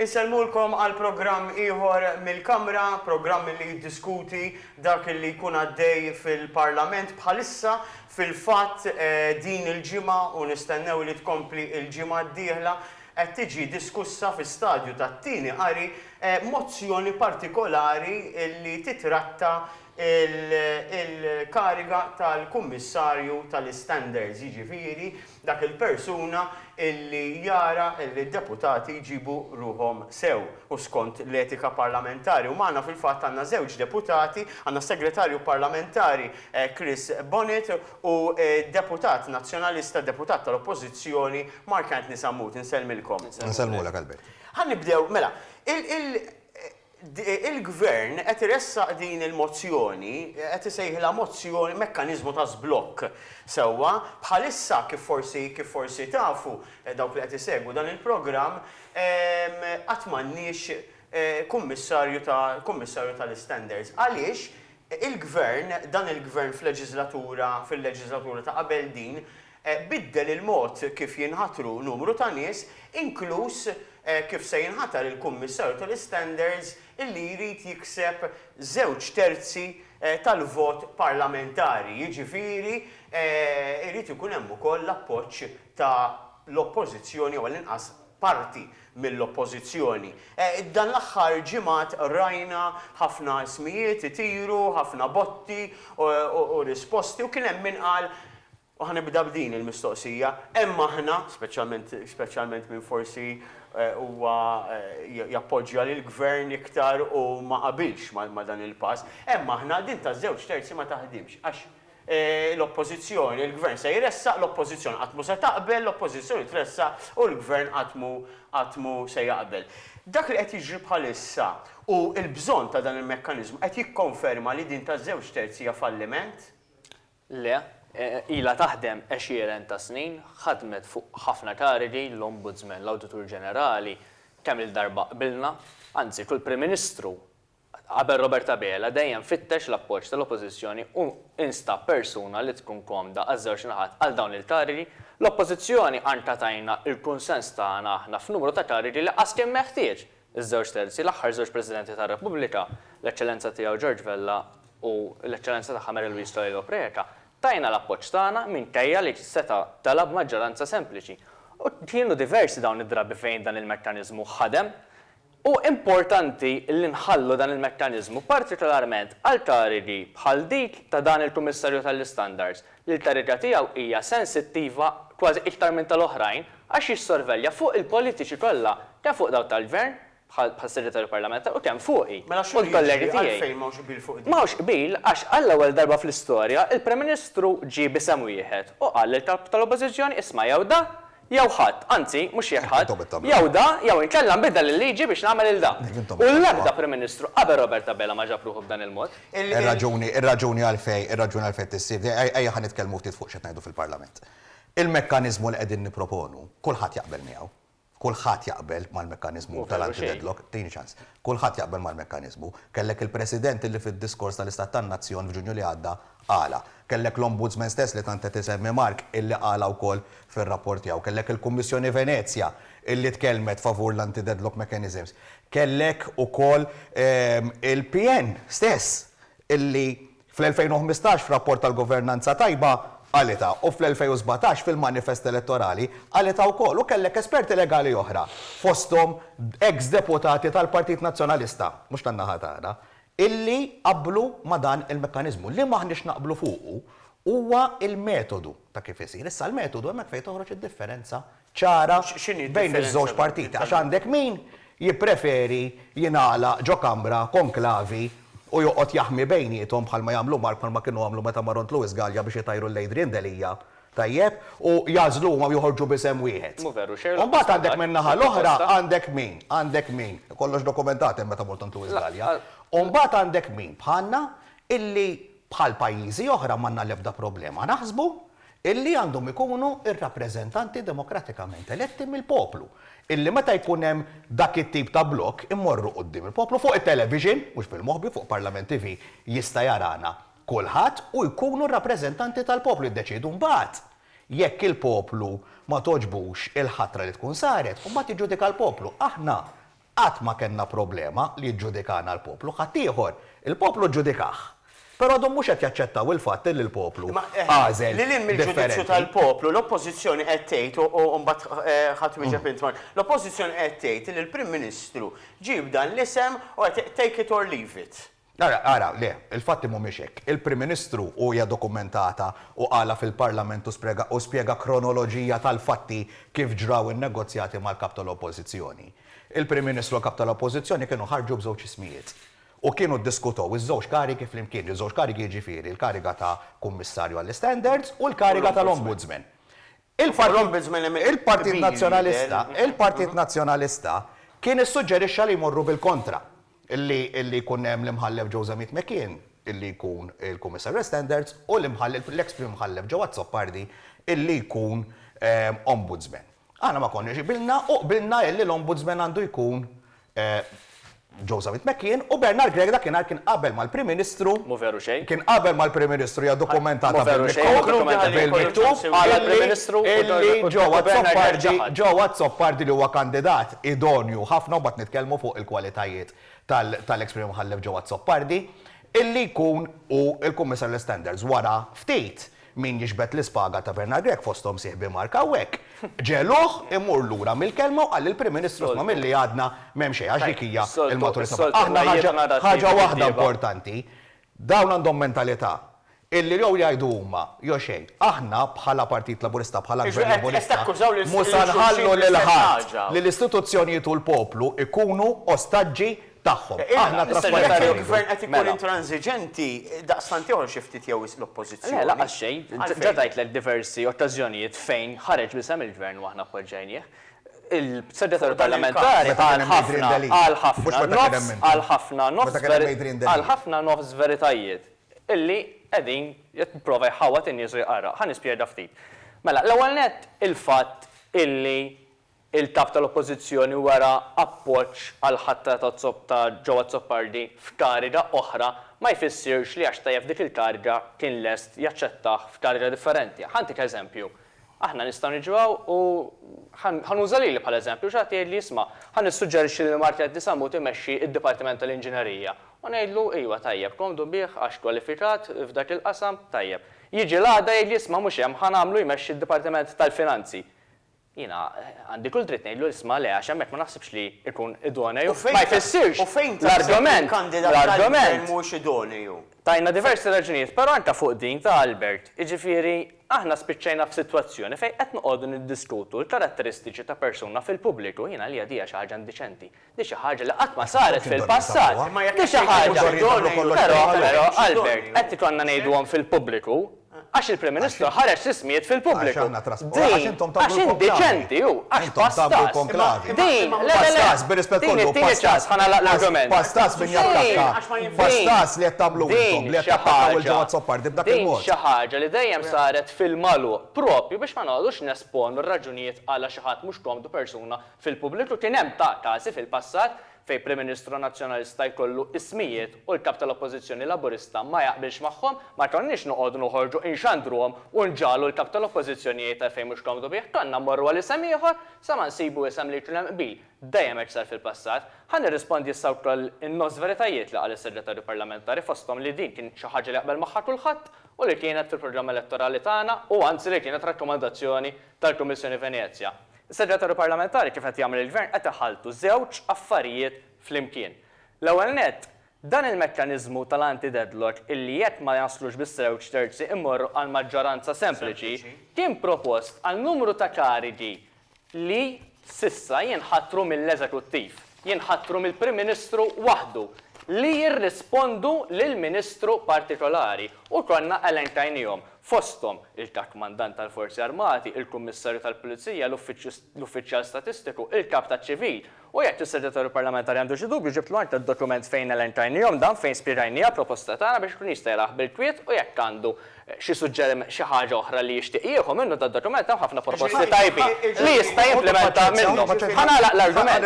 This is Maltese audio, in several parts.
Insellmulkom għal programm ieħor mill-Kamra, programm li jiddiskuti dak li jkun għaddej fil-Parlament bħalissa. Fil-fatt din il-ġimgħa, u nistennew li tkompli l-ġimgħa d-dieħla, qed tiġi diskussa fi stadju ta' tieni qari mozzjoni partikolari li titratta l-kariga tal-Kummissarju tal-Istandards, jiġifieri dak il-persuna illi jara illi d-deputati jġibu ruħhom sew u skont l-etika parlamentari u magħna fil-fatt għandna żewġ deputati, għandna s-Segretarju Parlamentari Chris Bonett u d-Deputat Nazzjonalista, Deputat tal-Oppożizzjoni Mark Anthony Sammut. Insellmilkom. Insellmulek Albert. Ħa nibdew, mela, il, Il-Gvern qed iressaq din il-mozzjoni, qed isejħilha mozzjoni, mekkaniżmu ta' żblokk sewwa. Bħalissa, kif forsi kif forsi tafu dawk li qed isegwu dan il-programm, qatt m'għandniex Kummissarju ta' Kummissarju tal-Istandards. Għaliex il-Gvern, dan il-Gvern f'leġiżlatura fil-leġiżlatura ta' qabel din, biddel il-mod kif jinħatru numru ta' nies, inkluż kif se jinħatar il-Kummissarju tal-Istandards li jrid jikseb żewġ terzi tal-vot parlamentari, jiġifieri jrid ikun hemm ukoll l-appoġġ tal-Oppożizzjoni jew għall-inqas parti mill-Oppożizzjoni. Dan l-aħħar ġimgħat rajna ħafna ismijiet itiru, ħafna botti u risposti u kien hemm min qal, u ħa nibda b'din il-mistoqsija, hemm aħna, speċjalment speċjalment min forsi huwa jappoġġja lill-Gvern iktar u ma qabilx ma' dan il-pass, hemm aħna, din taż-żewġ terzi ma taħdimx għax l-Oppożizzjoni, il-Gvern se jressaq, l-Oppożizzjoni qatt mhu se taqbel, l-Oppożizzjoni tressaq u l-Gvern qatt mhu qatt mhu se jaqbel. Dak li qed jiġri bħalissa u l-bżonn ta' dan il-mekkaniżmu qed jikkonferma li din taż-żewġ terz hija falliment? Le. Ilha taħdem għexieren ta' snin, ħadmet fuq ħafna karigi, l-Ombudsman, l-Awditur Ġenerali, kemm-il darba qbilna, anzi kull Prim Ministru Qabel Robert Abela dejjem fittex l-appoġġ tal-Oppożizzjoni u instab persuna li tkun komda għaż-żewġ naħat għal dawn il-karigi. L-Oppożizzjoni għandha tajna l-kunsens tagħna aħna f'numru ta' karigi li qas kien meħtieġ iż-żewġ terzi, l-aħħar żewġ Presidenti tar-Repubblika, l-Eċċellenza Tiegħu George Vella u l-Eċċellenza Tagħha Mary Louise Toledo Preca, tajna l-appoġġ tagħna minkejja li seta' tela' b'maġġoranza sempliċi. U kienu diversi dawn id-drabi fejn dan il-mekkaniżmu ħadem. Hu importanti li nħallu dan il-mekkaniżmu partikolarment għal tarigi bħal dik ta' dan il-Kummissarju tal-Istandards li l-kariga tiegħu hija sensittiva kważi iktar minn tal-oħrajn għax jissorvelja fuq il-politiċi kollha kemm fuq dawk tal-Gvern, bħas-Segretarju Parlamentari, u kemm fuqi u l-kollegi tiegħi. M'hawnx qbil għax għall-ewwel darba fl-istorja l-Prim Ministru ġie b'isem wieħed u qal lill-Kap tal-Oppożizzjoni isma' jew da jew ħadd, anzi, mhux jekk ħadd, jew da, jew inkella nbiddel il-liġi biex nagħmel il-da. U l-ebda Prim Ministru qabel Robert Abela ma ġab ruħu b'dan il-mod. Ir-raġuni, ir-raġuni għalfejn, ir-raġuni għalfejn qed issir di, ejja ħa nitkellmu ftit fuq x'qed ngħidu fil-Parlament. Il-mekkaniżmu li qegħdin nipproponu, kulħadd jaqbel miegħu. Kulħadd jaqbel mal-mekkaniżmu tal-anti-deadlock. Tini ċans. Kulħadd jaqbel mal-mekkaniżmu. Kellek il-President li fid-diskors tal-Istat tan-Nazzjon f'Ġunju li għadda Qala. Kellek l-Ombudsman stess li tant qed isemmi Mark illi qala wkoll fir-rapport tiegħu. Kellek il-Kummissjoni Venezja illi tkellmet favur l-anti-deadlock mechanisms. Kellek ukoll il-PN stess illi fl-2015 f'rapport tal-governanza tajba qalitha u fl-2017 fil-manifest elettorali qalitha wkoll u kellek esperti legali oħra fosthom ex-deputati tal-Partit Nazzjonalista, mhux tan-naħa tagħna, illi qablu ma' dan il-mekkaniżmu. Li m'aħniex naqblu fuqu huwa l-metodu ta' kif isir. Issa l-metodu hemmhekk fejn toħroġ id-differenza ċara bejn iż-żewġ partiti għax għandek min jippreferi jingħalaq ġo kamra konklavi u joqgħod jaħmi bejniethom bħalma jagħmlu mar bħalma kienu għamlu meta mar għond Louis Galea biex itajru lil Adrian Delia Tajjeb, u jagħżlu huma u joħorġu b'isem wieħed. Mhu veru, Sherlock Holmes. U mbagħad għandek min-naħa l-oħra għandek min? Għandek min? Kollox dokumentat hemm meta mort għand Louis Gallia. U mbagħad għandek min bħalna illi bħal pajjiżi oħra m'għandna l-ebda problema naħsbu illi għandhom ikunu r-rappreżentanti demokratikament eletti mill-poplu. Illi meta jkun hemm dak it-tip ta' blokk immorru quddiem il-poplu fuq it-television, mhux bil-moħbi, fuq Parlament TV jista' jarana. kulħadd u jkunu r-rappreżentanti tal-poplu jiddeċiedu mbagħad jekk il-poplu ma togħġbux il-ħatra li tkun saret u mbagħad jiġġudika l-poplu. Aħna qatt ma kellna problema li jiġġudikana l-poplu, ħaddieħor il-poplu ġġudikah. Però għadhom mhux qed jaċċettaw il-fatt li l-poplu għażel differenti. Imma lil hinn mill-ġudizzju tal-poplu, l-Oppożizzjoni qed tgħid, u mbagħad ħa twieġeb int Mark, l-Oppożizzjoni qed tgħid li l-Prim Ministru ġieb dan l-isem u qed take it or leave it. Ara, ara, le, il-fatti mhumiex hekk. Il-Prim Ministru, u hija dokumentata, u qalha fil-Parlament u sprega u spjega kronoloġija tal-fatti kif ġraw in-negozjati mal-Kap tal-Oppożizzjoni. Il-Prim Ministru u l-Kap tal-Oppożizzjoni kienu ħarġu b'żewġ ismijiet. U kienu ddiskutew iż-żewġ karigi flimkien, iż-żewġ karigi jiġifieri l-kariga ta' Kummissarju għall-Istandards u l-kariga tal-Ombudsman. Il-Partit Nazzjonalista, il-Partit Nazzjonalista kien issuġġerixxa li jmorru bil-kontra, li li jkun hemm l-Imħallef Joe Zammit McKeon li jkun il-Kummissar għal Standards u l-Imħallef, l-eks Prim Mħallef Joe Azzopardi li jkun Ombudsman. Aħna ma konniex qbilna u qbilna li l-Ombudsman għandu jkun Joe Zammit McKeon, u Bernard Grech dakinhar kien qabel mal-Prim Ministru, Mhu veru xejn. kien qabel mal-Prim Ministru, hija dokumentata Mhu veru xejn, bil-miktub, Konkludi ħalli jkollu bil-miktub, ċans iwieġbu. Għala l-Prim Ministru u d-Dottor Bernard Grech ġewwa ħaħa? Illi Joe Azzopardi, Joe Azzopardi li huwa kandidat idonju ħafna, u mbagħad nitkellmu fuq il-kwalitajiet tal, tal-eks Prim Imħallef Joe Azzopardi, illi jkun hu l-Kummissarju għall-Istandards wara ftit. Min jiġbed l-ispaga ta' Bernard Grech fosthom sieħbi Mark hawnhekk, ġegħluh imur lura mill-kelma u qal li l-Prim Ministru sma' milli għadna m'hemm xejn għax dik hija l-maturità. Aħna ħaġa, ħaġa waħda importanti, dawn għandhom mentalità illi jew jgħidu huma jew xejn. Aħna bħala Partit Laburista, bħala Gvern Laburista, mhux se nħallu lil ħadd li l-istituzzjonijiet u l-poplu jkunu ostaġġi tagħhom. Aħna trasparenti. Jekk il-Gvern qed ikun intransiġenti, daqstant jogħol xi ftit jew wisq l-Oppożizzjoni. Le, lanqas xejn. Ġa tgħidlek diversi okkażjonijiet fejn ħareġ bl-isem il-Gvern u aħna appoġġajnieh. Il-Segretarju Parlamentari qal ħafna, qal ħafna, nofs, qal ħafna, nofs, qal ħafna, nofs veritajiet illi qegħdin jipprova jħawwad in-nies u jqarraq. Ħa nispjega ftit. Mela, l-ewwel nett il-fatt illi Il-Kap tal-Oppożizzjoni wera appoġġ għall-ħatra ta' Zopp ta' Joe Azzopardi f'kariga oħra ma jfissirx li għax tajjeb f'dik il-kariga kien lest jaċċettah f'kariga differenti. Ħa ntik eżempju, aħna nistgħu niġu hawn u ħa nuża lili bħala eżempju u xi ħadd jgħidli isma' ħa nissuġġerixxi lil Marchetti Sammut imexxi d-Dipartiment tal-Inġinerija u ngħidlu iwa tajjeb komdu bih għax kwalifikat f'dak il-qasam tajjeb. Jiġi l-għada jgħidli isma' mhux hemm ħa nagħmlu jmexxi d-Dipartiment tal-Finanzi. Jiena għandi kull dritt ngħidlu isma' le għax hemmhekk ma naħsibx li jkun idoneu, ma jfissirx l-argument, l-argument, tajna diversi raġunijiet, però anke fuq din ta' Albert, jiġifieri aħna spiċċajna f'sitwazzjoni fejn qed noqogħdu niddiskutu l-karatteristiċi ta' persuna fil-pubbliku, jiena għalija di hija xi ħaġa indiċenti. Di xi ħaġa li qatt ma saret fil-passat. Di xi ħaġa. Però, però, Albert, qed ikollna ngħiduhom fil-pubbliku għax il-Prim Ministru ħareġ l-ismijiet fil-pubbliku. Din, għax indiċenti hu, għax pass tas. Din, le, le, le, din it-tieni ċans, ħa nagħlaq l-argument. Din, din xi ħaġa, din xi ħaġa li dejjem saret fil-magħluq proprju biex ma noqogħdux nesponu r-raġunijiet għala xi ħadd mhux komdu persuna Fil-pubbliku kien hemm ta' każi fil-passat fejn Prim Ministru Nazzjonalista jkollu ismijiet u l-Kap tal-Oppożizzjoni Laburista ma jaqbilx magħhom, ma konniex noqogħdu noħorġu inxandruhom u nġagħlu l-Kap tal-Oppożizzjoni jgħid għalfejn mhux komdu bih, konna mmorru għal isem ieħor sa ma nsibu isem li jkun hemm qbil. Dejjem hekk sar fil-passat. Ħa nirrispondi issa wkoll in-nofs veritajiet li qal is-Segretarju Parlamentari fosthom li din kienet xi ħaġa li jaqbel magħha kulħadd u li kienet fil-programm elettorali tagħna u anzi li kienet rakkomandazzjoni tal-Kummissjoni Venezja. Is-Segretarju Parlamentari kif qed jagħmel il-Gvern qed iħalltu żewġ affarijiet flimkien. L-ewwel nett, dan il-mekkaniżmu tal-anti-deadlock illi jekk ma jaslux biż-żewġ terzi immorru għal maġġoranza sempliċi kien propost għal numru ta' karigi li s'issa jinħatru mill-Eżekuttiv. jinħatru mill-Prim Ministru waħdu li jirrispondu lil Ministru partikolari u konna elenkainihom, fosthom il-Kap Mandant tal-Forzi Armati, il-Kummissarju tal-Pulizija, l-Uffiċjal Statistiku, il-Kap taċ-Ċivil. U jekk is-Segretarju Parlamentari għandu xi dubju ġibtlu anke d-dokument fejn elenkainihom dan fejn spjegajniha proposta tagħna biex ikun jista' jaraha bil-kwiet u jekk għandu xi suġġeriment, xi ħaġa oħra li jixtieq jieħu minnu dad-dokument, hemm ħafna proposti tajbin li jista' jimplimenta minnhom. Ħa nagħlaq l-argument.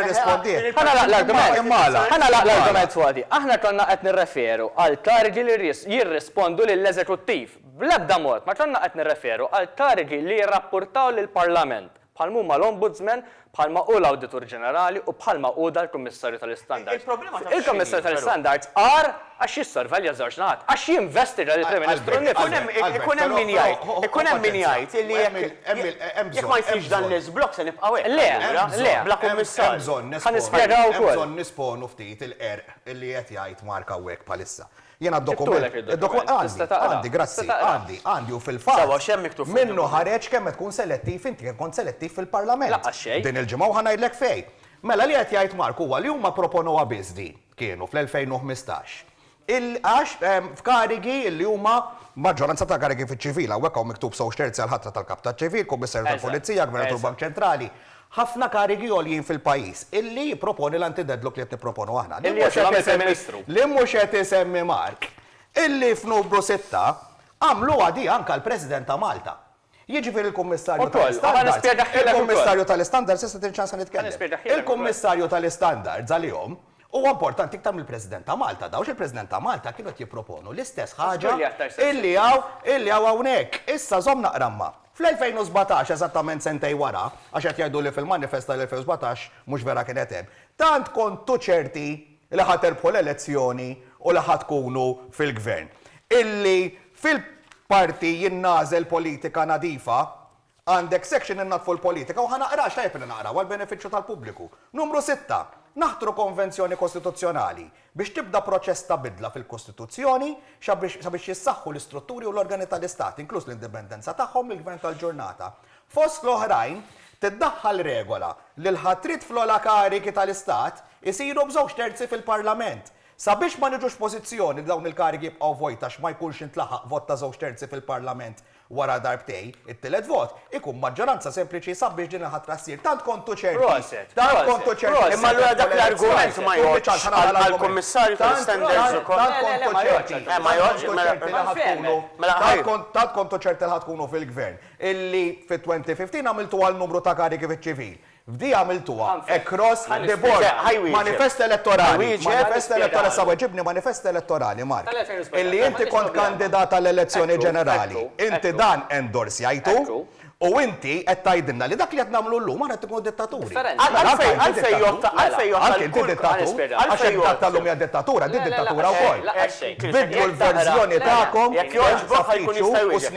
Ħa nagħlaq l-argument. Ħa nagħlaq l-argument f'għadi. Aħna konna qed nirreferu għal karigi li jirrispondu lill-eżekuttiv. Bl-ebda mod ma konna qed nirreferu għal karigi li jirrappurtaw lill-Parlament. bħal m'huma l-Ombudsman, bħal ma hu l-Awditur Ġenerali u bħal ma hu dan il-Kummissarju tal-Istandards. Il-Kummissarju tal-Istandards agħar għax jissorvelja ż-żewġ naħat, għax jinvesti lil il-Prim Ministru nnifsu. Ikun hemm min jgħid, ikun hemm min jgħid illi jekk ma jsirx dan l-iżblokk se nibqgħu hekk. Le, le, bla Kummissarju. Ħa nispjega wkoll. Hemm bżonn nisponu ftit il-qerq li qed jgħid Mark hawnhekk bħalissa. Jiena d-dokument. Ġibtulek id-dokument. Għandi, tista' taqrah. Għandi, grazzi. Għandi, għandi u fil-fatt. Sewwa, x'hemm miktub fuq il-dokument? Minnu ħareġ kemm qed tkun selettiv inti, kemm kont selettiv fil-Parlament. Lanqas xejn. Din il-ġimgħa u ħa ngħidlek fejn. Mela li qed jgħid Mark huwa li huma pproponowha biss din, kienu, fl-2015. Il, għax, f'karigi li huma, maġġoranza ta' karigi fiċ-ċivil, hawnhekk hawn miktub żewġ terzi għall-ħatra tal-Kap taċ-Ċivil, Kummissarju tal-Pulizija, Gvernatur Bank Ċentrali, ħafna karigi għoljin fil-pajjiż, illi jipproponi l-anti-deadlock li qed nipproponu aħna. Li mhux qed isemmi, li mhux qed isemmi Mark, illi f'Nubru Sitta għamluha di anke għall-President ta' Malta. Jiġifieri l-Kummissarju tal-Istandards, il-Kummissarju tal-Istandards, issa tini ċansa nitkellem, il-Kummissarju tal-Istandards għalihom huwa importanti iktar mill-President ta' Malta. Dawn il-President ta' Malta kienu qed jipproponu l-istess ħaġa illi hawn, illi hawn hawnhekk. Issa żomm naqra ma'. Fl-2017, eżattament sentejn wara, għax qed jgħidu li fil-manifest tal-2017 mhux vera kienet hemm, tant kontu ċerti li ħa tirbħu l-elezzjoni u li ħa tkunu fil-Gvern, illi fil-parti Jien nagħżel politika nadifa, għandek section Innaddfu l-politika u ħa naqra għax tajjeb li naqra u għall-benefiċċju tal-pubbliku. Numru sitta, Naħtru konvenzjoni kostituzzjonali. Biex tibda proċess ta' bidla fil-Kostituzzjoni sabiex jissaħħu l-istrutturi u l-organi tal-Istat, inkluż l-indipendenza tagħhom mill-Gvern tal-ġurnata. Fost l-oħrajn, tiddaħħal regola li l-ħatriet fl-ogħla karigi tal-Istat isiru b'żewġ terzi fil-Parlament, sabiex ma niġux f'pożizzjoni li dawn il-karigi jibqgħu vojt għax ma jkunx intlaħaq vot ta' żewġ terzi fil-Parlament Wara darbtejn, it-tielet vot ikun maġġoranza sempliċi sabiex din il-ħatra ssir. Tant kontu ċerti! Proset! Tant kontu ċerti! Proset! Imma allura dak l-argument ma jgħoddx għall-Kummissarju tal-istandards ukoll? Tant kontu ċerti! Eh, ma jgħoddx? Mela, mela ħa tkunu. Mela ħa tkunu. Tant kontu ċerti li ħa tkunu fil-Gvern, illi fit-2015 għamiltu għal numru ta' karigi fiċ-ċivil. F'di għamiltuha across the board. Manifest elettorali. Manifest elettorali. Issa weġibni manifest elettorali, Mark. Illi inti kont kandidat għall-elezzjoni ġenerali. Inti dan endorsjajtu u inti qed tgħidilna li dak li qed nagħmlu llum aħna qed inkunu dittaturi. Għalfejn jgħodd għalfejn inti dittatur? Għax jekk dak tal-lum hija dittatura, din dittatura wkoll. Biddlu l-verżjoni tagħkom. Jekk jogħġbok ħa jkun jista' jwieġeb.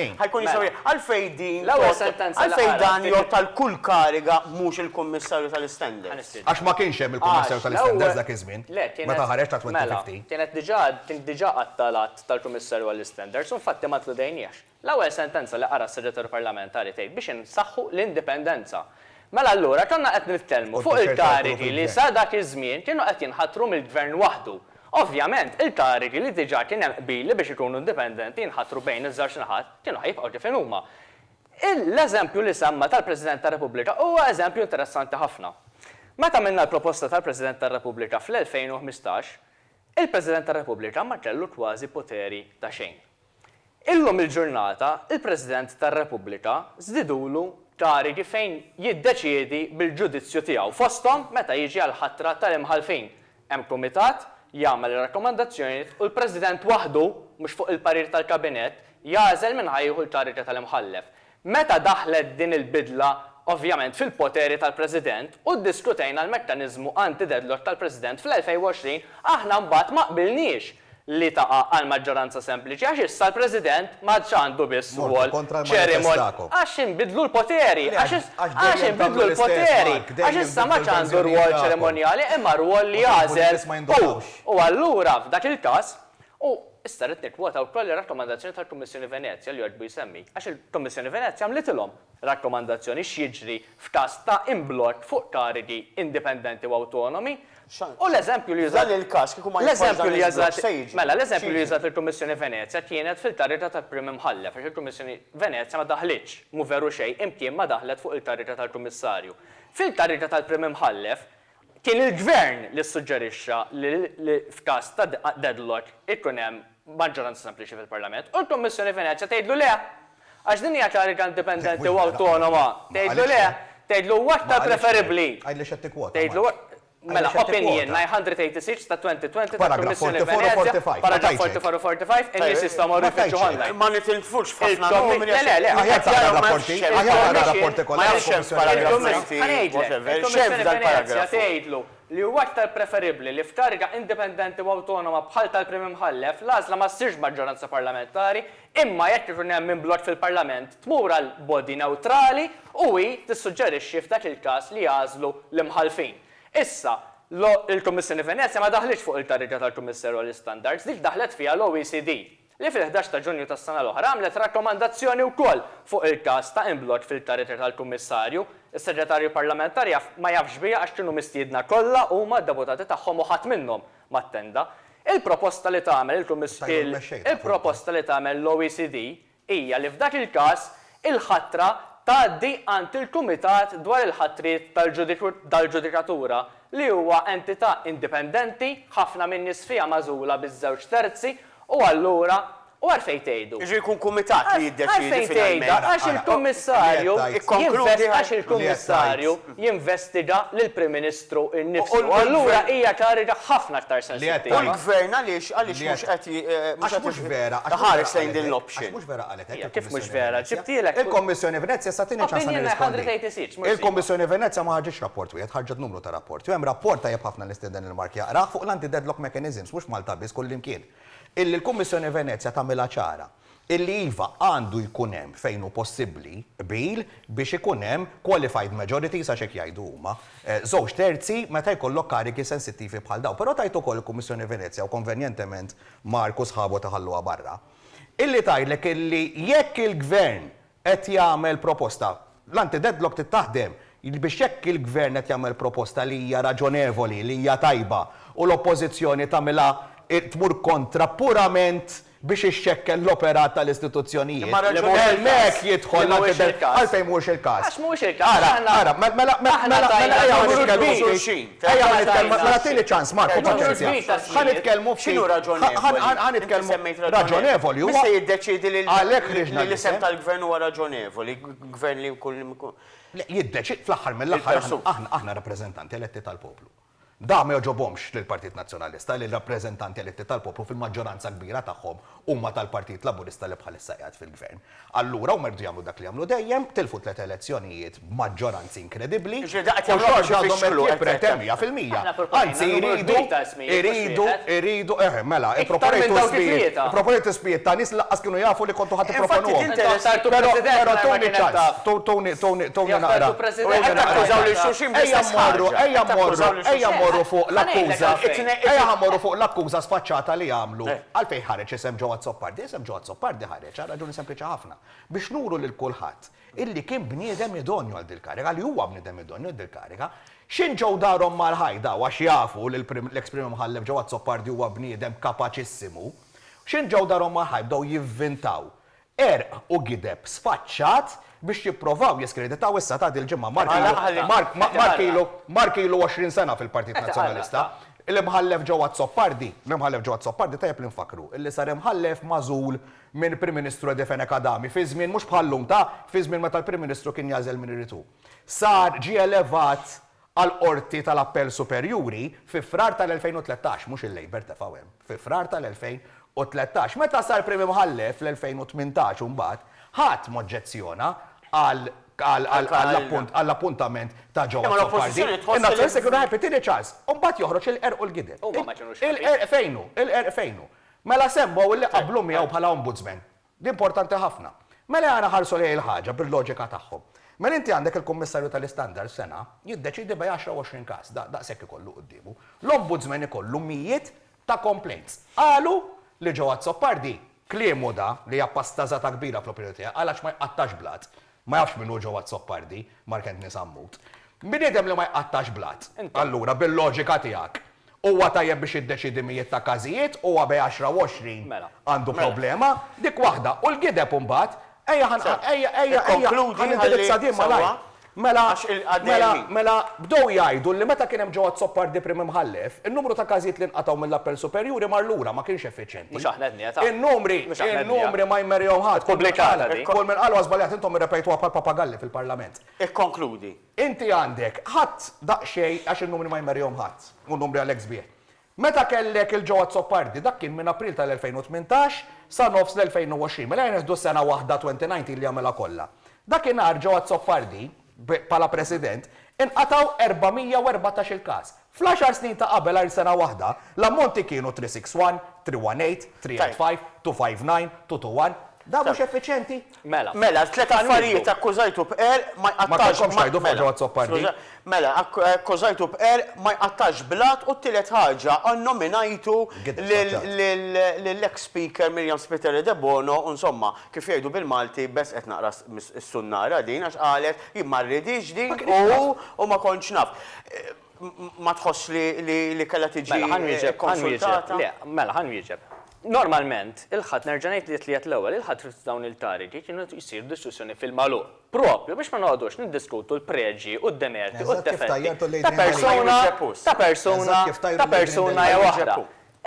Għalfejn? Din tgħodd għalfejn dan jgħodd għal kull kariga mhux il-Kummissarju tal-Istandards? Għax ma kienx hemm il-Kummissarju tal-Istandards dak iż-żmien, meta ħareġ ta' 2015. Kienet diġà, kien diġà għatta l-għadd tal-Kummissarju għall-Istandards u infatti ma nkludejniehx. L-ewwel sentenza li qara s-Segretarju Parlamentari tgħid biex insaħħu l-indipendenza. Mela allura konna qed nitkellmu fuq il-karigi li sa dak iż-żmien kienu qed jinħatru mill-Gvern waħdu. Ovvjament, il-karigi li diġà kien hemm qbil li biex ikunu indipendenti jinħatru bejn iż-żewġ naħat kienu ħa jibqgħu kif inhuma. L-eżempju li semma tal-President tar-Repubblika huwa eżempju interessanti ħafna. Meta għamilna l-proposta tal-President tar-Repubblika fl-2015, il-President tar-Repubblika ma kellu kważi poteri ta' xejn. Illum il-ġurnata il-President tar-Repubblika żdidulu karigi fejn jiddeċiedi bil-ġudizzju tiegħu fosthom meta jiġi għall-ħatra tal-imħallfin. Hemm kumitat, jagħmel ir-rakkomandazzjonijiet u l-President waħdu, mhux fuq il-parir tal-Kabinett, jagħżel min ħa jieħu l-kariga tal-imħallef. Meta daħlet din il-bidla ovvjament fil-poteri tal-President u ddiskutejna l-mekkaniżmu anti-deadlock tal-President fl-2020, aħna mbagħad ma qbilniex li taqa' għal maġġoranza sempliċi għax issa l-President m'għadx għandu biss rwol ċerimon. Għax inbidlu l-poteri! Għax inbidlu l-poteri! Għax issa m'għadx għandu rwol ċerimonjali imma rwol li jagħżel hu! U allura f'dak il-każ, U, issa, rrid nikkwota wkoll ir-rakkomandazzjoni tal-Kummissjoni Venezja li jogħġbu jsemmi, għax il-Kummissjoni Venezja għamlitilhom rakkomandazzjoni x'jiġri f'każ ta' imblokk fuq karigi indipendenti u awtonomi, u l-eżempju li użat, l-eżempju li użat, mela, l-eżempju li użat il-Kummissjoni Venezja kienet fil-karriga tal-Prim Imħallef, għax il-Kummissjoni Venezja ma daħlitx, mhu veru xejn, imkien ma daħlet fuq il-karriga tal-Kummissarju. Fil-karriga tal-Prim Imħallef, Kien il-Gvern li ssuġġerixxa li f'każ ta' deadlock ikun hemm maġġoranza sempliċi fil-Parlament u l-Kummissjoni Venezja tgħidlu le! Għax din hija kariga indipendenti u awtonoma. Tgħidlu le! Tgħidlu huwa aktar preferibbli. Għidli x'qed tikkwota, Mark. Mela, opinjin, 986 ta' 2020 tal-Kummissjoni Venezja, paragraff 44 u 45, in-nies jistgħu jmorru jfittxu ħonda. f'ħafna nomini għax. Le, le, le, aħjar taqra r-rapporti, aħjar taqra r-rapporti kollha tal-Kummissjoni Venezjana. Ħa ngħidlek, il-Kummissjoni Venezja tgħidlu li huwa aktar preferibli li f'kariga indipendenti u awtonoma bħal tal-Prim Imħallef l-għażla ma ssirx b'maġġoranza parlamentari imma jekk ikun hemm minn blokk fil-Parlament tmur għal body newtrali u hi tissuġġerixxi f'dak il-każ li jagħżlu l-Imħallfin. Issa, l-Kummissjoni Venezja ma daħlitx fuq il-kariga tal-Kummissarju għall-Istandards, dik daħlet fiha l-OECD. li fil-ħdax ta' Ġunju tas-sena l-oħra għamlet rakkomandazzjoni wkoll fuq il-każ ta' imblokk fil-karriera tal-Kummissarju, is-Segretarju Parlamentari jaf ma jafx biha għax kienu mistiedna kollha huma, d-deputati tagħhom u ħadd minnhom ma attenda. Il-proposta li tagħmel il-Kummissjoni, il-proposta li tagħmel l-OECD hija li f'dak il-każ il-ħatra tgħaddi għand il-Kumitat dwar il-Ħatriet tal-Ġudikatura, li huwa entità indipendenti, ħafna min-nies fiha magħżula bi żewġ terzi, u allura, u għalfejn tgħidu? Jiġifieri jkun kumitat li jiddeċiedi finalment. Għalfejn tgħidha? Għax il-Kummissarju jinvest, għax il-Kummissarju. jinvestiga lill-Prim Ministru nnifsu. U allura hija kariga ħafna aktar sensittiva. U l-Gvern għaliex għaliex mhux qed iħares lejn din l-option? Hija kif mhux vera? Ġibtilek. Il-Kommissjoni Venezja issa tini ċans għal nirrispondi. Il-Kommissjoni Venezja ma ħarġitx rapport wieħed, ħarġet numru ta' rapporti. U hemm rapport tajjeb ħafna li nistieden lil Mark jaqrah fuq l-anti-deadlock mechanisms, mhux Malta biss, kullimkien, illi l-Kummissjoni Venezja tagħmilha ċara. illi iva għandu jkun hemm fejn hu possibbli qbil biex ikun hemm qualified majorities għax hekk jgħidu huma, żewġ terzi meta jkollok karigi sensittivi bħal dawn. Però tgħid ukoll il-Kummissjoni Venezja u konvenjentement Mark u sħabu ta' ħalluha barra, illi tgħidlek illi jekk il-Gvern qed jagħmel proposta. L-anti-deadlock trid taħdem biex jekk il-Gvern qed jagħmel proposta li hija raġonevoli, li hija tajba u l-Oppożizzjoni tagħmilha tmur kontra purament biex ixxekkel l-operat tal-istituzzjonijiet, hemmhekk jidħol l-anti-deadlock. Għalfejn mhuwiex il-każ? Għax mhuwiex il-każ. Ara, ara, mela, mela, mela, mela, mela ejja ma nitkellmux. Ejja ħa nitkellmu, mela tini ċans Marco paċenzja. Ħa nitkellmu ftit. X'inhu raġonevoli? Ħa nitkellmu. Raġonevoli huwa. Min se jiddeċiedi li l-isem tal-Gvern huwa raġonevoli? Gvern li jkun li jkun. Jiddeċiedi fl-aħħar mill-aħħar aħna rappreżentanti eletti tal-poplu. Dan ma jogħġobhomx lill-Partit Nazzjonalista li r-rappreżentanti eletti tal-poplu fil-maġġoranza kbira tagħhom Huma tal-Partit Laburista li bħalissa qiegħed fil-Gvern. Allura huma jridu jagħmlu dak li għamlu dejjem, tilfu tliet elezzjonijiet b'maġġoranzi inkredibbli u xorta għadhom qed jippretendu, mija fil-mija, anzi jridu, jridu, jridu, eħe, mela, ipproponejtu ismijiet, ipproponejtu ismijiet ta' nies li lanqas kienu jafu li kontu ħa tipproponuhom. Però, però tuni ċans, tuni, tuni, tuni naqra, tuni naqra. Ejja mmorru, ejja mmorru, ejja mmorru fuq l-akkuża, ejja ħa mmorru fuq l-akkuża sfaċċata li għamlu. Għalfejn ħareġ isem Joe Azzopardi? Isem Joe Azzopardi ħareġ għal raġuni sempliċi ħafna, biex nuru lil kulħadd illi kien bniedem idonju għal dil-kariga, li huwa bniedem idonju għal dil-kariga. X'in ġew darhom mal-ħajta u għax jafu li l-eks Prim Imħallef Joe Azzopardi huwa bniedem kapaċissimu, x'in ġew darhom mal-ħajt bdew jivvintaw Għerq u gideb sfaċċat biex jipprovaw jiskreditaw issa ta' dil-ġimgħa Mark ilu Mark ilu 20 sena fil-Partit Nazzjonalista. L-Imħallef Joe Azzopardi L-Imħallef Joe Azzopardi tajjeb li nfakkru illi sar Imħallef magħżul minn Prim Ministru Edi Fenech Adami fi żmien mhux bħal-lum ta' fi żmien meta l-Prim Ministru kien jagħżel min irid hu. Sar ġie elevat għall-Qorti tal-Appell Superjuri fi Frar tal-2013, mhux il-Labour tefgħu hemm, fi Frar tal-2013. Meta sar Prim Imħallef fl-2018 u mbagħad, ħadd m'oġġezzjona għal għall-appunt għall-appuntament ta' Joe Azzopardi. In-Nazzjonalisti kienu happy, tieni ċans. U mbagħad joħroġ il-qerq u l-gideb. Huma ma kinux happy. Il-qerq fejn hu? Il-qerq fejn hu? Mela semmgħu li qablu miegħu bħala Ombudsman. Di importanti ħafna. Mela ejja naħarsu lejn il-ħaġa bil-loġika tagħhom. Mela inti għandek il-Kummissarju tal-Istandards sena jiddeċiedi bej għaxra u għoxrin każ, daqshekk ikollu quddiemu. L-Ombudsman ikollu mijiet ta' complaints. Qalu li Joe Azzopardi, kliemu da li hija pasta żgħata kbira fl-opinjoni tiegħi, qal għax ma jqattax blat, Ma jafx min hu Joe Azzopardi, Mark Anthony Sammut. Bniedem li ma jqattax blat. Allura, bil-loġika tiegħek, huwa tajjeb biex jiddeċiedi mijiet ta' każijiet, huwa bejn għaxra u għoxrin għandu problema, dik waħda, u l-gideb imbagħad, ejja ħa ejja ejja ejja ħa nindirizza din malajr. Mela, mela, mela bdew jgħidu li meta kien hemm Joe Azzopardi Prim Imħallef, in-numru ta' każijiet li nqatgħu mill-Appell Superjuri mar lura, ma kienx effiċjenti. Mhux aħna qed ngħidha. In-numri, in-numri ma jmerjgħu ħadd. Ippubblikata din. Kull min qal huwa żbaljat intom irrepejtuha bħal papagalli fil-Parlament. Ikkonkludi. Inti għandek, ħadd daqsxejn, għax in-numri ma jmerjgħuhom ħadd, u n-numri għalhekk sbieħ. Meta kellek il-Joe Azzopardi, dak kien minn April tal-2018 sa nofs l-2020, mela jneħħdu sena waħda 2019 li jagħmilha kollha. Dakinhar Joe Azzopardi, bħala President, inqatgħu 414-il każ. Fl-għaxar snin ta' qabel għajr sena waħda, l-ammonti kienu 361, 318, 385, 259, 221. Dan mhux effiċjenti? Mela. Mela, t-tliet affarijiet akkużajtu b'qerq ma jqattgħax. Ma kellkomx tgħidu f'Ħaġa Azzopardi? Mela, skuża. Mela, akkużajtu b'qerq ma jqattgħax blat u t-tielet ħaġa, nnominajtu lill-eks Speaker Miriam Spiteri Debono u insomma, Kif jgħidu bil-Malti, bes qed naqra s-sunnara din għax qalet jien ma rridhiex din u ma kontx naf. Ma tħossx li kellha tiġi kkonsultata? Mela ħa nwieġeb. Normalment, il-Ħadd, nerġa' ngħid li t-Tliet l-ewwel, il-Ħadd u dawn il-tariki kienu jsir diskussjoni fil-magħluq, proprju biex ma noqogħdux niddiskutu l-preġji u d-demerti u d-defetti ta' persuna ta' persuna ta' persuna jew oħra.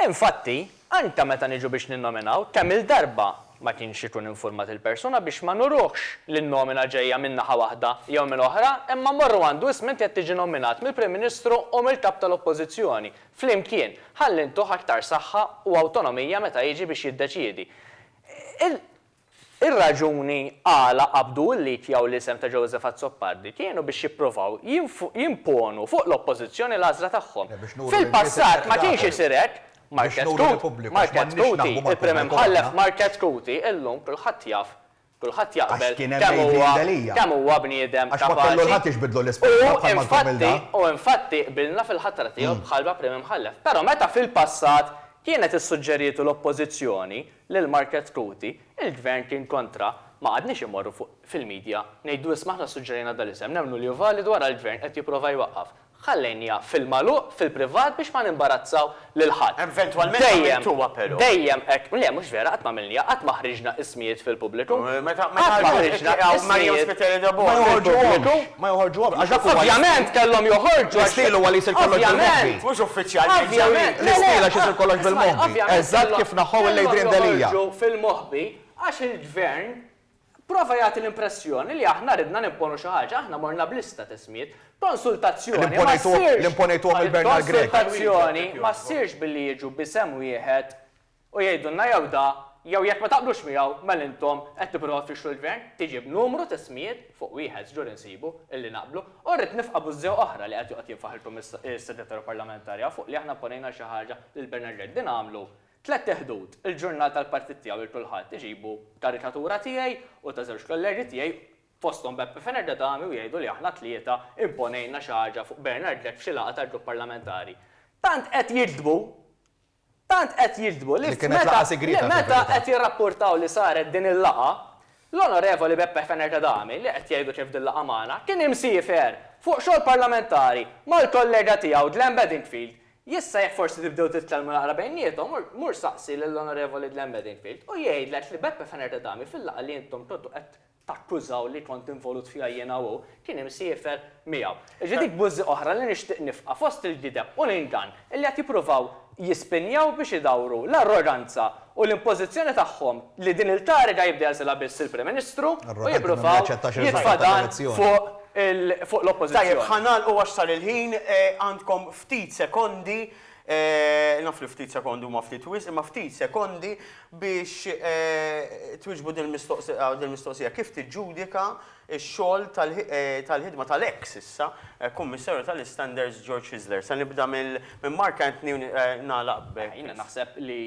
Infatti, anke meta niġu biex ninnominaw, kemm-il darba ma kienx ikun infurmat il-persuna biex ma nuruhx li n-nomina ġejja minn naħa waħda jew minn oħra imma mmorru għandu ism inti qed tiġi nnominat mill-Prim Ministru u mill-Kap tal-Oppożizzjoni flimkien ħalli ntuh aktar saħħa u awtonomija meta jiġi biex jiddeċiedi il Ir-raġuni għala qabdu l-id jew l-isem ta' Joseph Azzopardi kienu biex jippruvaw jimponu fuq l-Oppożizzjoni l-għażla tagħhom. Fil-passat ma kienx isir hekk. Market Coote, Market Cootie, il-Prim Imħallef Market Cootie illum kulħadd jaf, kulħadd jaqbel kemm huwa bniedem kapaċi u infatti qbilna fil-ħatra tiegħu bħalma Prim Imħallef. Però meta fil-passat kienet issuġġerietu l-Oppożizzjoni lil Market Kuti, il-Gvern kien kontra, ma qgħadniex immorru fuq fil-media ngħidu isma' aħna ssuġġerejna dal-isem, nemmnu li hu validu ara l-Gvern qed jipprova jwaqqaf. Ħallejniha fil-magħluq, fil-privat biex ma nimbarazzaw lil ħadd. Eventwalment għamiltuha però. Dejjem hekk, le mhux vera qatt ma għamilniha, qatt ma ħriġna ismijiet fil-pubbliku. Meta qatt ma ħriġna ismijiet fil-pubbliku. Ma joħorġu obra, għax dak huwa l-istil. Ovvjament kellhom joħorġu għax. L-istil huwa li jsir kollox bil-moħbi. Mhux uffiċjalment. Ovvjament. L-istil għax isir kollox bil-moħbi. Ovvjament. Eżatt kif naħħu l-Adrian Delia. Kellhom joħorġu fil-moħbi għax il-Gvern prova jagħti l-impressjoni li aħna ridna nimponu xi ħaġa. Aħna morna b'lista t'ismijiet. Konsultazzjoni ma ssirx. Li mponejtuhom il-Bernard Grech. Konsultazzjoni ma ssirx billi jiġu b'isem wieħed u jgħidulna jew da jew jekk ma taqblux miegħu mela intom qed tipprovaw tfixklu l-Gvern, tiġi b'numru ta' ismijiet fuq wieħed żgur insibu illi naqblu u rrid nifqa' bużżew oħra li qed joqgħod jinfaħ il-Segretarju Parlamentari hawn fuq li aħna pponejna xi ħaġa lil Bernard Grech. Din għamlu tlett iħdud, il-ġurnal tal-partit tiegħu lil kulħadd iġibu karikatura tiegħi u ta' żewġ kollerji tiegħi fosthom Beppe Fenech D'Adami u jgħidu li aħna tlieta imponejna xi ħaġa fuq Bernard Grech f'xi laqgħa tal-Grupp Parlamentari. Tant qed jigdbu Tant qed jiġdbu li meta qed jirrappurtaw li saret din il-laqgħa, l-Onorevoli Beppe Fenech Adami, li qed jgħidu kif dil-laqgħa magħna, kien imsiefer fuq xogħol parlamentari mal-kollega tiegħu Glenn Bedingfield. Jista' jekk forsi tibdew titkellmu naqra bejniethom, mur saqsi lill-Onorevoli Glenn Bedingfield u jgħidlek li Beppe Fenech Adami fil-laqgħa li intom kontu qed takkużaw li kont involut fiha jiena u hu, kien imsiefer miegħu. Jiġifieri dik bużżi oħra li nixtieq nifqa' fost il-gideb u l-ingann li qed jippruvaw jispinjaw biex idawru l-arroganza u l-impożizzjoni tagħhom li din il-kariga jibda jeżilha biss il-Prim Ministru u jippruvaw jitfa' dan fuq fuq l-Oppożizzjoni. Tajjeb, ħa nagħlqu għax sar il-ħin, għandkom ftit sekondi, naf li ftit sekondi huma ftit wisq, imma ftit sekondi Biex twieġbu din il-mistoqsija, kif tiġġudika x-xogħol tal-ħidma tal-eks issa Kummissarju tal-Istandards George Hyzler? Se nibda minn Mark Anthony u nagħlaq b'. Jiena naħseb li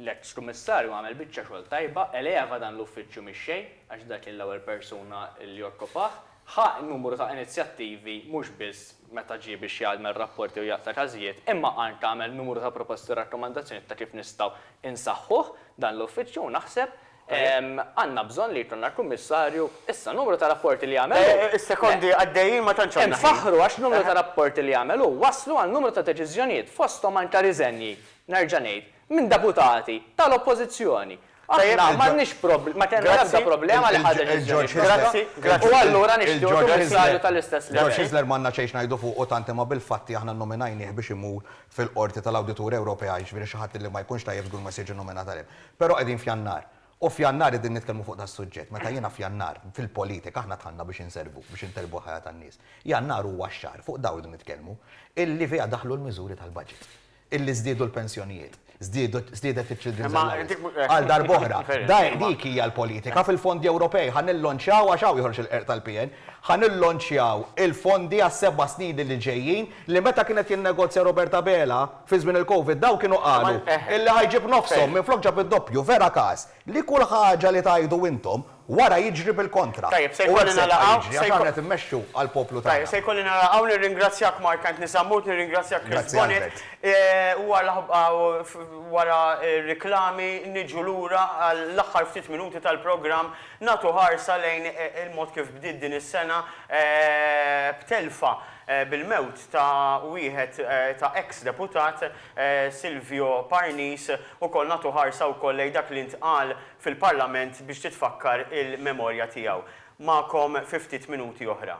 l-eks Kummissarju għamel biċċa xogħol tajba, eleva dan l-uffiċċju mix-xejn, għax dak kien l-ewwel persuna li okkupah, ħa numru ta' inizjattivi mhux biss meta ġie biex jgħaddmel rapporti u jaqta' każijiet, imma Arndt għamel numru ta' proposti u rakkomandazzjonijiet ta' kif nistgħu insaħħuh dan l-uffiċċju u naħseb għandna bżonn li jkollna l-Kummissarju issa numru ta' rapporti li għamel hu. Is-sekondi għaddejjin ma tantx għandna ħin. Infaħħru għax numru ta' rapporti li għamel hu wasslu għal numru ta' deċiżjonijiet fosthom anke riżenji, nerġa' ngħid, minn deputati tal-Oppożizzjoni. Aħna m'għandniex prob, ma kellna l-ebda problema li ħa deċiżjoni f'isem. U allura nixtiequ kummissarju tal-istess livell. George Hyzler m'għandna xejn x'ngħidu fuqu tant imma bil-fatti aħna nnominajnieh biex imur fil-Qorti tal-Awdituri Ewropea, jiġifieri xi ħadd li ma jkunx tajjeb żgur ma jistgħax jiġi nnominat għalih. Però qegħdin f'Jannar. U f'Jannar qegħdin nitkellmu fuq das-suġġett. Meta jiena f'Jannar, fil-politika aħna dħalna biex inservu, biex intejbu l-ħajja tan-nies. Jannar huwa x-xahar, fuq dawn irridu nitkellmu, illi fiha daħlu l-miżuri tal-budget. illi żdiedu l-pensjonijiet, żdiedet iċ-children's allowance. Għal darb'oħra, dik hija l-politika fil-fondi Ewropej. Ħa nillonċjaw, għax hawn joħroġ il-qerq tal-PN, ħa nillonċjaw il-fondi għas-seba' snin li ġejjin li meta kien qed jinnegozja Robert Abela fi żmien il-Covid dawn kienu qalu illi ħa jġib nofshom minflok ġab id-doppju. Vera każ. Li kull ħaġa li tgħidu intom, wara jiġri bil-kontra. Tajjeb, se jkolli nagħlaq hawn. U hekk se jibqa' jiġri, għax aħna qed immexxu għall-poplu tagħna. Tajjeb, se jkolli nagħlaq hawn. Nirringrazzjak Mark Anthony Sammut, nirringrazzjak Chris Bonnitt. Wara r-riklami niġu lura għall-aħħar ftit minuti tal-programm, nagħtu ħarsa lejn il-mod kif bdiet din is-sena b'telfa, bil-mewt ta' wieħed ta' eks-deputat, Silvio Parnis, ukoll nagħtu ħarsa wkoll lejn dak li ntqal fil-Parlament biex titfakkar il-memorja tiegħu. Magħkom fi ftit minuti oħra.